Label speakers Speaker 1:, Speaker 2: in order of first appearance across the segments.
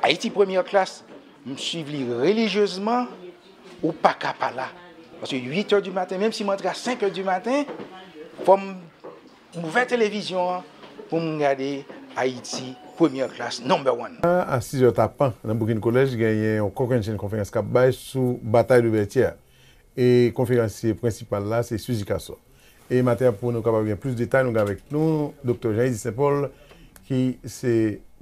Speaker 1: Ayiti premyè klas m swiv li relijyezman ou paka pa la paske 8 è di maten menm si m antre a 5 è di maten fò m ouvè televizyon an pou m gade Ayiti premyè klas number one. Nan a 6 è tapan
Speaker 2: nan Boukin Kolèj genyen yon kokennchenn konferans k ap bay sou batay de Vètyè e konferansye prensipal la se Suzy Casson. E maten pou nou kapab gen plis detay nou gen avèk nou Doktè Jean Eddy Saint Paul ki se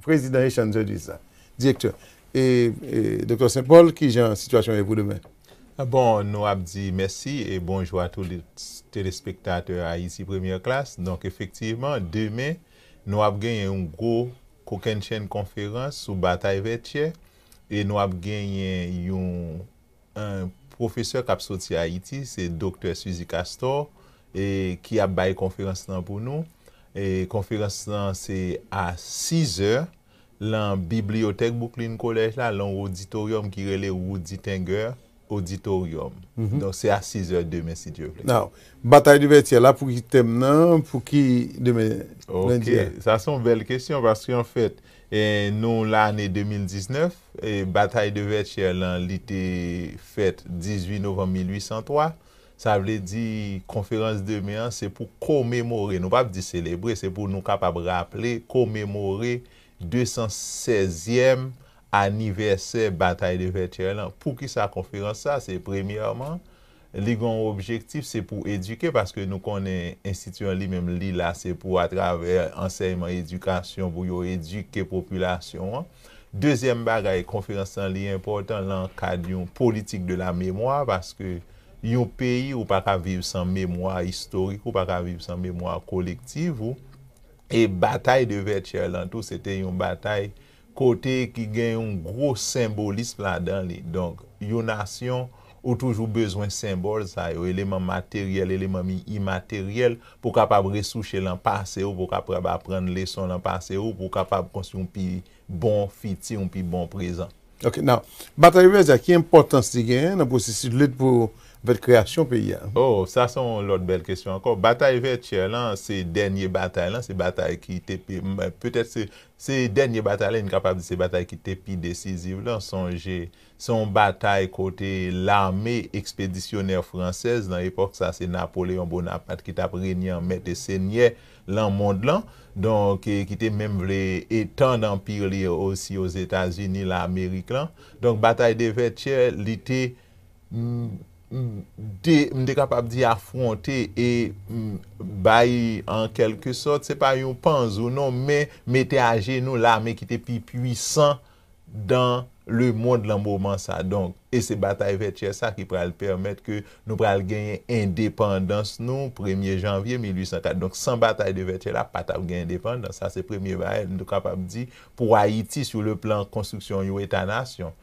Speaker 2: prezidan Haitian Judges la. Direktè, e Doktè Saint Paul kijan sitiyasyon ye pou demen? Bon, nou
Speaker 3: ap di mèsi e bonjou a tout telespektatè Haïti Première Classe. Donk efektivman demen nou ap genyen yon gwo kokennchenn konferans sou batay Vètyè e nou ap genyen yon Yn pwofesè kap soti ayiti se doktè Suzy Castor e ki ap bay konferans lan pou nou e konferans lan se a 6 zè lan bibliyotèk Bouklin kolèj la lan w oditoryòm ki rele Roody Tenger oditoryòm donk se a 6 zè demen si Dye vle. Now batay de
Speaker 2: vètyè la pou ki tèm nan pou ki demen lendi a? Ok
Speaker 3: sa son bèl kesyon paske anfèt nou lane 2019 Batay de Vètyè lan li te fèt 18 novanm 1803, sa vle di konferans demen an se pou komemore, nou pap di selebre, se pou nou kapab raple, komemore 216 zyèm anivèsè Batay de Vètyè lan. Poukisa konferans sa? Se premyèman, li gen yon objektif se pou edike paske nou konnen enstiti an li menm li la se pou atravè ansèyman edikasyon pou yo edike popilasyon an. Dezyèm bagay konferans lan li enpòtan lan kad yon politik de la memwa paske yon peyi ou pa ka viv san memwa istorik ou pa ka viv san memwa kolektiv ou e batay de Vètyè lan tou se te yon batay kote ki gen yon gwo senbolism ladan li, donk yon nasyon ou toujou bezwen senbòl sa yo, eleman materyèl, eleman mi imateryèl pou kapab resouche lan pase ou, pou kapab aprann leson lan pase ou, pou kapab konstwi yon pi bon fiti, yon pi bon prezan. Ok, now,
Speaker 2: Batay Rivyè Zak, ki enpòtans li genyen nan pwosesis lit pou anfèt kreyasyon peyi a? Oh, sa se yon
Speaker 3: lòt bèl kesyon ankò. Batay Vètyè lan se dènye batay lan, se batay ki te, petèt se Se dènye batay la, n kapab di se batay ki te pi desiziv la. Sonje, se yon batay kote lame ekspedisyonè fransèz, nan epòk sa a se Napoleyon Bonapat ki t ap renye an mèt e senyè lan mond lan, donk ki te menm vle etann anpi li osi Ozetazini, Lamerik lan. Donk batay de Vètyè, li te. de, m te kapab di afwonte e bay an kèlke sòt, se pa yon panzou non, men mete ajenou lame ki te pi pwisan dan lemonn lan moman sa. Donk, e se batay Vètyè sa ki pral pèmèt ke nou pral genyen endepandans nou premye janvye 1804. Donk, san batay de Vètyè la, pa t ap gen endepandans. Sa se premye bagay m te kapab di pou Ayiti sou le plan konstriksyon yon eta nasyon.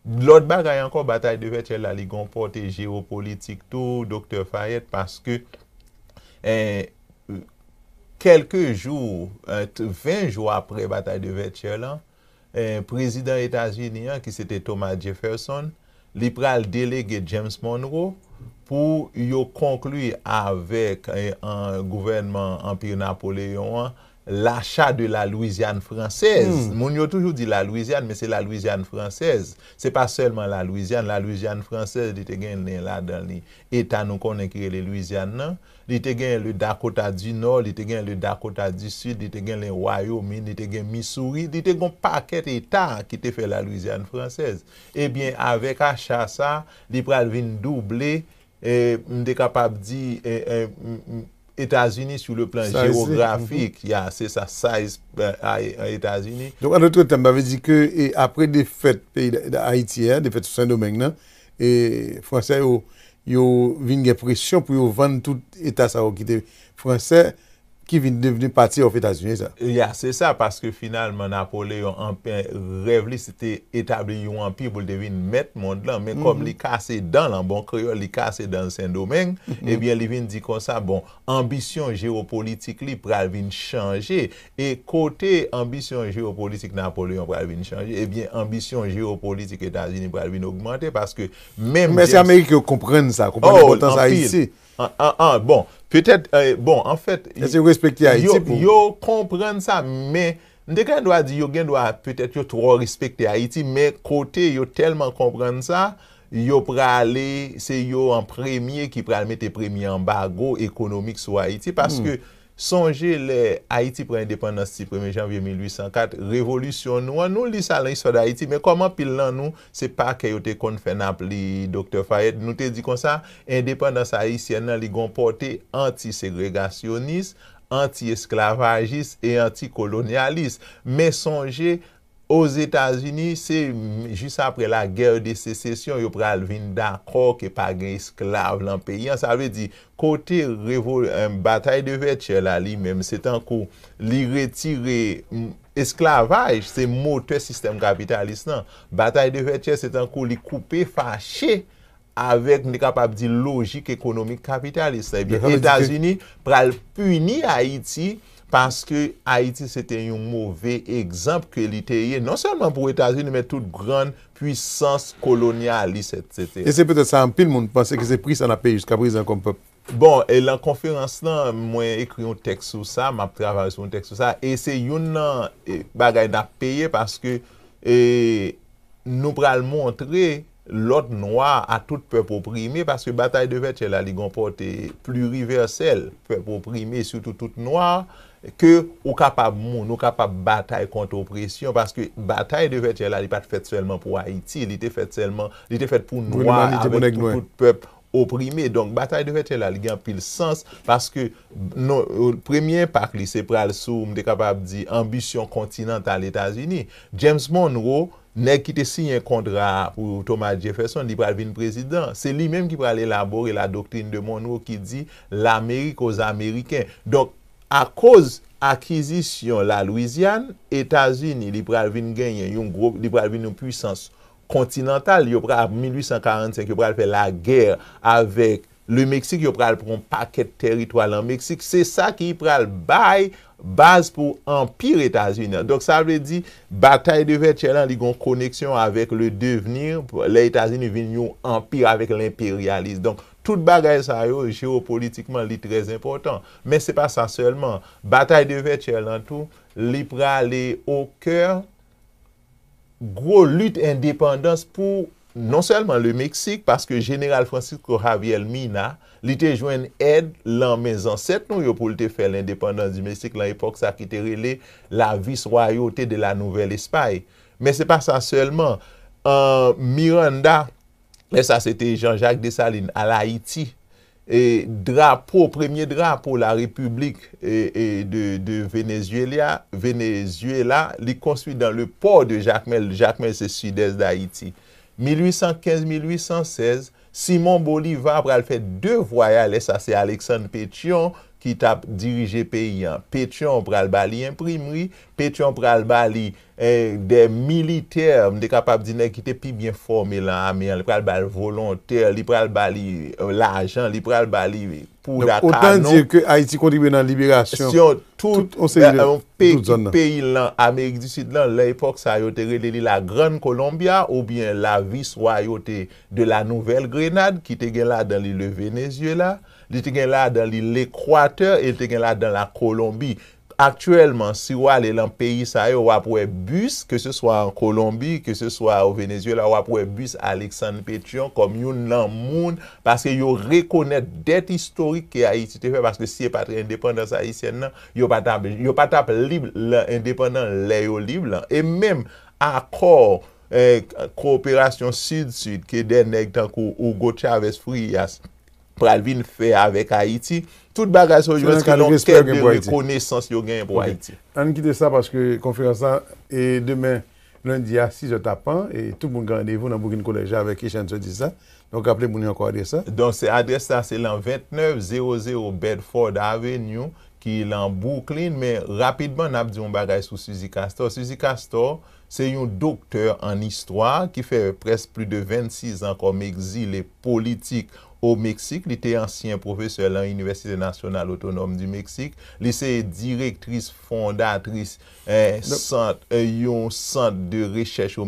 Speaker 3: Lòt bagay ankò, batay de Vètyèl la li gen yon pòte jewopolitik tou, Doktè Fayèt, paske, kèlke jou, 20 jou aprè batay de Vètyèl la, Prezidan Etazini an, ki se te Thomas Jefferson, li pral delege James Monroe pou yo konkli avèk gouvènman Anpi Napoleyon an L'achat de la Louisiane française, moun yo toujou di la Louisiane men se la Louisiane française, se pa sèlman la Louisiane, la Louisiane française li te gen nen ladan li eta nou konnen ki rele Louisiane nan, li te gen le Dakota du Nord, li te gen le Dakota du Sud, li te gen le Wyoming, li te gen Missouri, li te gon pakèt eta ki te fè la Louisiane française. Ebyen avèk acha sa, li pral vin double M te kapab di Etazini sou le plan jewografik, ya, se sa, size Etazini. Donk, an dotre tèm,
Speaker 2: sa vle di ke apre defèt peyi Ayiti a, defèt sou Sendomeng nan, Fransè yo, yo vin gen presyon pou yo vann tout eta sa yo ki te Fransè, ki vin devni pati of Etazini sa. Ya se sa
Speaker 3: paske finalman Napoleon anpe rèv li se te etabli yon anpi pou l te vin mèt mond lan men kòm li kase dan l an bon kreyòl li kase dan l Sendomeng ebyen li vin di konsa bon anbisyon jewopolitik li pral vin chanje e kote anbisyon jewopolitik Napoleon pral vin chanje ebyen anbisyon jewopolitik Etazini pral vin ogmante paske menm James. Mèsi amerik yo
Speaker 2: konprann sa konprann enpòtans Ayiti An-an-an, bon,
Speaker 3: petèt,
Speaker 2: eh,
Speaker 3: bon, anfèt, Èske yo respekte
Speaker 2: Ayiti
Speaker 3: pou. Yo konprann
Speaker 2: sa,
Speaker 3: men, m te gen dwa di yo gen dwa, petèt, yo twò respekte Ayiti, men kote yo tèlman konprann sa, yo prale, se yo an premye ki pral mete premye anbago ekonomik sou Ayiti, paske Sonje lè Ayiti pran endepandans ti premye janvye 1804, revolisyon nou an, nou li sa lan istwa Dayiti, men kòm anpil lan nou, se pa kè yo te konn fè nap li Doktè Fayèt, nou te di konsa, endepandans ayisyèn lan li gon pòte anti-segregasyonis, anti-esklavajis e anti-kolonyalis. Men sonje, Ozetazini, se jis apre la guerre de secession yo pral vin dakò ke pa gen esklav lan peyi an. Sa vle di, kote revo, batay de Vètyè la li menm, se tankou li retire, esklavaj se motè sistèm kapitalis lan. Batay de Vètyè se tankou li koupe fache avèk, m te kapab di, lojik ekonomik kapitalis la, ebyen Etazini pral pini Ayiti paske Ayiti se te yon move egzanp ke li te ye, non sèlman pou Etazini men tout gran pwisans kolonyalis etsetera. E se petèt sa anpil moun
Speaker 2: panse ke se pri sa n ap peye jiska prezan kòm pèp. Bon, e lan
Speaker 3: konferans lan, mwen ekri yon tèks sou sa, m ap travay sou yon tèks sou sa, e se youn lan bagay n ap peye paske e nou pral montre, lòt nwa a tout pèp oprime paske batay de vètyè la li gon pòte pliriversèl pèp oprime sitou tout nwa ke ou kapab moun ou kapab batay kont opresyon paske batay de vètyè la li pat fèt sèlman pou ayiti li te fèt sèlman li te fèt pou nwa avèk tout tout pèp oprime donk batay de vètyè la li gen anpil sans paske non premye enpak li se pral sou m te kapab di anbisyon kontinantal etazini James Monroe nèg ki te siyen kontra pou Thomas Jefferson li pral vin prezidan se li menm ki pral elabore la doctrine de Monroe ki di lamerik o zameriken donk akoz akizisyon la Louisiane etazini li pral vin genyen yon gwo li pral vin yon pwisans Continental yo pral ap 1845 yo pral fè la guerre avèk le Mexique yo pral pran yon pakèt tèritwa lan Mexique se sa ki pral bay baz pou anpire etazini an donk sa vle di batay de vètyè lan li gon koneksyon avèk le devenir lè etazini vin yon anpire avèk lenperyalis donk tout bagay sa yo jewopolitikman li trè enpòtan men se pa sa sèlman batay de vètyè lan tou li prale o kè. gwo lit endepandans pou non sèlman le Meksik, paske Jeneral Francisco Javier Mina, li te jwenn èd lan men zansèt nou yo pou l te fè lendepandans du Mexique lan epòk sa ki te rele la Vice-Royauté de la Nouvelle Espagne. Men se pa sa sèlman, an Miranda, lè sa se te Jean-Jacques Dessalines al Ayiti, E drapo, premye drapo la repiblik de Venezuela, Venezuela, li konstwi dan le pò de Jakmèl, Jakmèl se sidès Dayiti. 1815-1816, Simon Boliva pral fè 2 vwaya, lè sa se Aleksann Petyon ki tap dirije peyi an. Petyon pral ba li enprimri, Petyon pral ba li de militè, m te kapab di nèg ki te pi byen fòme lan ame an, li pral ba l volontè, li pral ba li lajan, li pral ba li pouda, kanon. Donk otan di ke Ayiti
Speaker 2: kontribye nan liberasyon tout yon seri
Speaker 3: de tout zòn nan. Peyi lan Amerik di Sid lan, lan epòk sa yo te rele li la Grann Kolombya oubyen la Viswayote de la Nouvèl Grenad ki te gen ladan li le Venezyela, li te gen ladan li Lekwatè e li te gen ladan la Kolonbi. Aktyèlman, si ou ale lan peyi sa yo, w ap wè bis, ke se swa an Kolonbi, ke se swa o Venezyela, w ap wè bis Aleksann Petyon kòm youn lan moun, paske yo rekonèt dèt istorik ke Ayiti te fè, paske si e pa t endepandans ayisyèn lan, yo pa t ap, yo pa t ap lib lan, endepandan lè yo lib lan. E menm akò, eh, koperasyon Sid-Sid ke dè nèg tankou Hugo Chavez Frías, pral vin fè avèk Ayiti, tout bagay sa yo jwenn se yon kèk de rekonesans yo genyen pou Ayiti. Ok. Ann kite sa paske
Speaker 2: konferans la e demen lendi a sizè tapan e tout moun gen randevou nan Boukin Kolèj avèk Echann Sotis la. Donk raple moun yo ankò adrès la. Donk se adrès la se
Speaker 3: lan 2900 Bedford Avenue ki lan Bwouklin men rapidman n ap di yon bagay sou Suzy Castor. Suzy Castor Se yon doktè an istwa ki fè prèsk pli de 26 an kòm egzile politik o Meksik. Li te ansyen pwofesè lan Inivèsite Nasyonal Otonòm di Meksik. Li se direktris fondatris yon sant de rechèch o.